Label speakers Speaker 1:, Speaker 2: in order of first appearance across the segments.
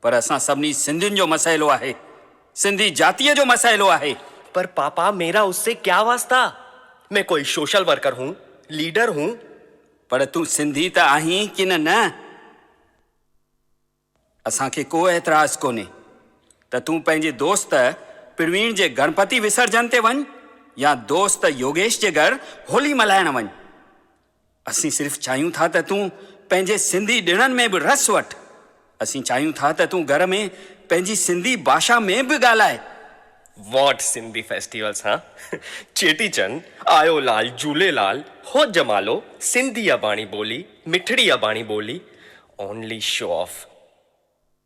Speaker 1: پر اسان سڀني سنڌين جو مسئلو آهي. سنڌي جاتيء جو مسئلو آهي. پر پاپا
Speaker 2: ميرا اس سي ڪيا واسطا. مين ڪوئي شوشل ورڪر هون، ليڊر هون. پر تون
Speaker 1: سنڌي ته آهين ڪنه نه؟ اسان کي ڪو اعتراض ڪونهي ته تون پنهنجي دوست پروين جي گڻپتي وسرجن تي وڃ يا دوست يوگيش جي گهر هولي ملهائڻ وڃ. اسين صرف چاهيون ٿا ته تون پنهنجي سنڌي ڏڻن ۾ به رس وٺ. اسين چاهيون ٿا ته تون گهر ۾ پنهنجي سنڌي باشا ۾ به ڳالهاء. واٽ
Speaker 2: سنڌي فيسٽيول سان چيٽي چنڊ، آيو لال، جهوليلال، هو جمالو، سنڌي اباڻي ٻولي، مٺڙي اباڻي ٻولي، اونلي شو آف.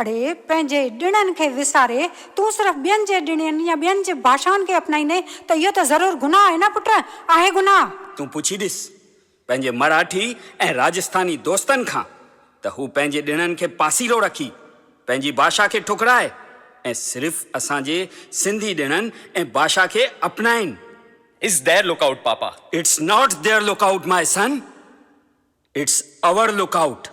Speaker 3: اڙي، پنهنجي ڏڻن کي وساري، تون صرف ٻين جي ڏڻين يا ٻين جي ڀاشائن کي اپنائيندين ته اهو ته ضرور گناهه آهي نه پٽ، آهي گناهه. تون پڇي ڏس
Speaker 1: پنهنجي مراٺي ۽ راجسٿاني دوستن کان ته هو پنهنجي ڏڻن کي پاسيرو رکي، پنهنجي ڀاشا کي ٺڪرائي ۽ صرف اسان جي سنڌي ڏڻن ۽ ڀاشا کي اپنائين. It's their
Speaker 2: lookout پاپا. It's not their
Speaker 1: lookout my son. It's our lookout.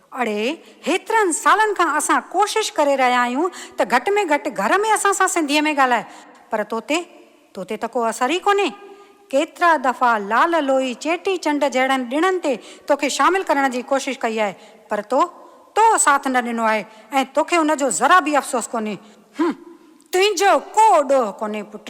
Speaker 3: اڙي هيترن سالن کان اسان ڪوشش ڪري رهيا آهيون ته گهٽ ۾ گهٽ گهر ۾ اسان سان سنڌيء ۾ ڳالهاء پر توتي توتي ته ڪو اثر ئي ڪونهي. ڪيترا دفعا لال لوئي، چيٽي چنڊ جهڙن ڏڻن تي توکي شامل ڪرڻ جي ڪوشش ڪئي آهي پر تو تو ساٿ نه ڏنو آهي ۽ توکي ان جو ذرا به افسوس ڪونهي. هنم، تنهنجو ڪو ڏوهه ڪونهي پٽ.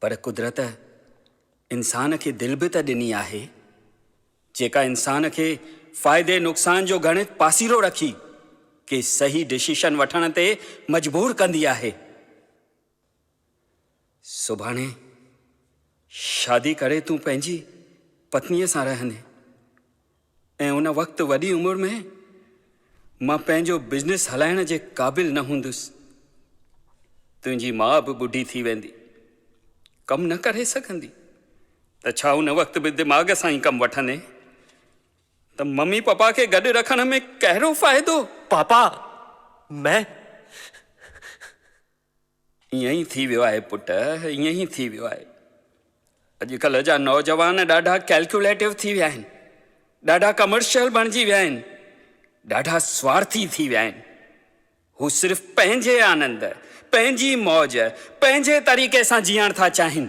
Speaker 1: پر قدرت انسان کي دل به ته ڏني آهي، جيڪا انسان کي فائدي نقصان جو ڳڻت پاسيرو رکي ڪي صحيح ڊسيشن وٺڻ تي مجبور ڪندي آهي. سڀاڻي شادي ڪري تون پنهنجي پتنيء سان رهندين. ۽ ان وقت وڏي عمر ۾ مان پنهنجو بزنس هلائڻ جي قابل نه هوندس. تنهنجي ماء به ٻڍي ٿي ويندي، ڪم نه ڪري سگهندي ته ڇا ان وقت به دماغ سان ئي ڪم وٺندين ته ممي پپا کي گڏ رکڻ ۾ ڪهڙو فائدو؟ پاپا،
Speaker 2: مين
Speaker 1: ائين ئي ٿي ويو آهي پٽ، ائين ئي ٿي ويو آهي. اڄڪلهه جا نوجوان ڏاڍا ڪيلڪيوليٽو ٿي ويا آهن، ڏاڍا ڪمرشل بڻجي ويا آهن، ڏاڍا سوارٿي ٿي ويا آهن. هو صرف پنهنجي آنند، پنهنجي موج، پنهنجي طريقي سان جيئڻ ٿا چاهين.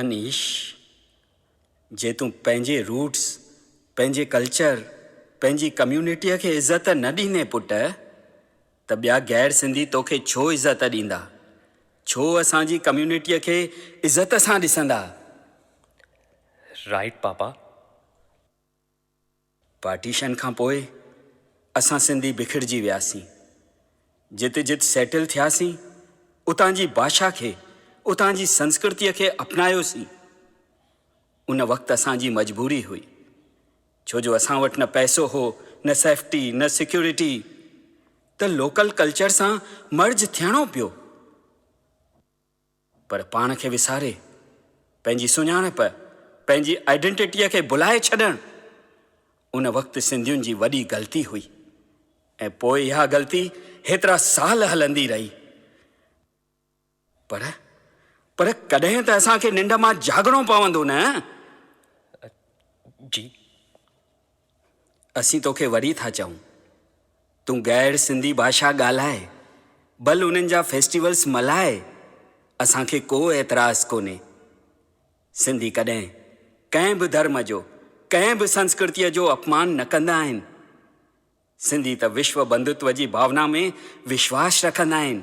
Speaker 1: انيش، جي تون پنهنجي روٽس، پنهنجي ڪلچر، پنهنجي ڪميونٽيء کي عزت نه ڏيندين پٽ، ته ٻيا غير سنڌي توکي ڇو عزت ڏيندا؟ ڇو اسان جي ڪميونٽيء کي عزت سان ڏسندا؟
Speaker 2: Right papa.
Speaker 1: پارٽيشن کان پوء اسان سنڌي بکڙجي وياسين. جت جت سيٽل ٿياسين، اتان جي ڀاشا کي، اتان جي سنسڪرتيء کي اپنايوسين. ان وقت اسان جي مجبوري هئي، ڇو جو اسان وٽ نه پئسو هو، نه سيفٽي، نه سيڪيورٽي، ته لوڪل ڪلچر سان مرج ٿيڻو پيو. پر پاڻ کي وساري، پنهنجي سڃاڻپ، پنهنجي آئيڊنٽيٽيء کي ڀلائي ڇڏڻ، ان وقت سنڌين جي وڏي غلطي هئي ۽ پوء اها غلطي هيترا سال هلندي رهي. پر، پر ڪڏهن ته اسان کي ننڊ مان جاڳڻو پوندو نه؟ جي. اسين توکي وري ٿا چئون تون غير سنڌي ڀاشا ڳالهاء ڀل انهن جا فيسٽيولس ملهاء اسان کي ڪو اعتراض ڪونهي سنڌي ڪڏهن ڪنهن به ڌرم جو ڪنهن به سنسڪرتيء جو اپمان نه ڪندا آهن سنڌي ته وشو بنڌتو جي ڀاونا ۾ وشواس رکندا آهن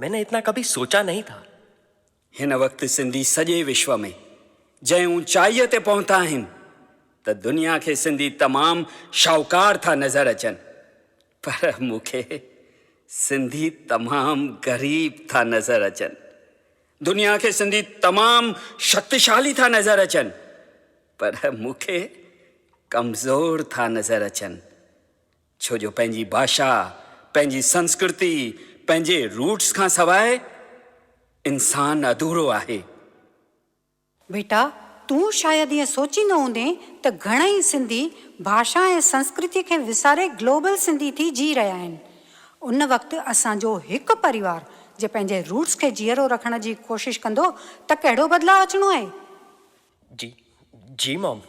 Speaker 2: مين نه اتنا ڪڀي سوچا نهين ٿا. هن وقت
Speaker 1: سنڌي سڄي وشو ۾ جنهن اوچائيء تي پهتا آهن ته دنيا کي سنڌي تمام شاهوڪار ٿا نظر اچن پر مون کي سنڌي تمام غريب ٿا نظر اچن. دنيا کي سنڌي تمام شڪتيشالي ٿا نظر اچن پر مون کي ڪمزور ٿا نظر اچن. ڇو جو پنهنجي ڀاشا، پنهنجي سنسڪرتي، پنهنجي روٽس کان سواء انسان اڌورو آهي.
Speaker 3: بيٽا، تون شايد ائين سوچي نه هوندين ته گهڻائي سنڌي ڀاشا ۽ سنسڪرتي کي وساري گلوبل سنڌي ٿي جي رهيا آهن. ان وقت اسان جو هڪ پريوار جي پنهنجي روٽس کي جيئرو رکڻ جي ڪوشش ڪندو ته ڪهڙو بدلاء اچڻو آهي. جي
Speaker 2: جي مام.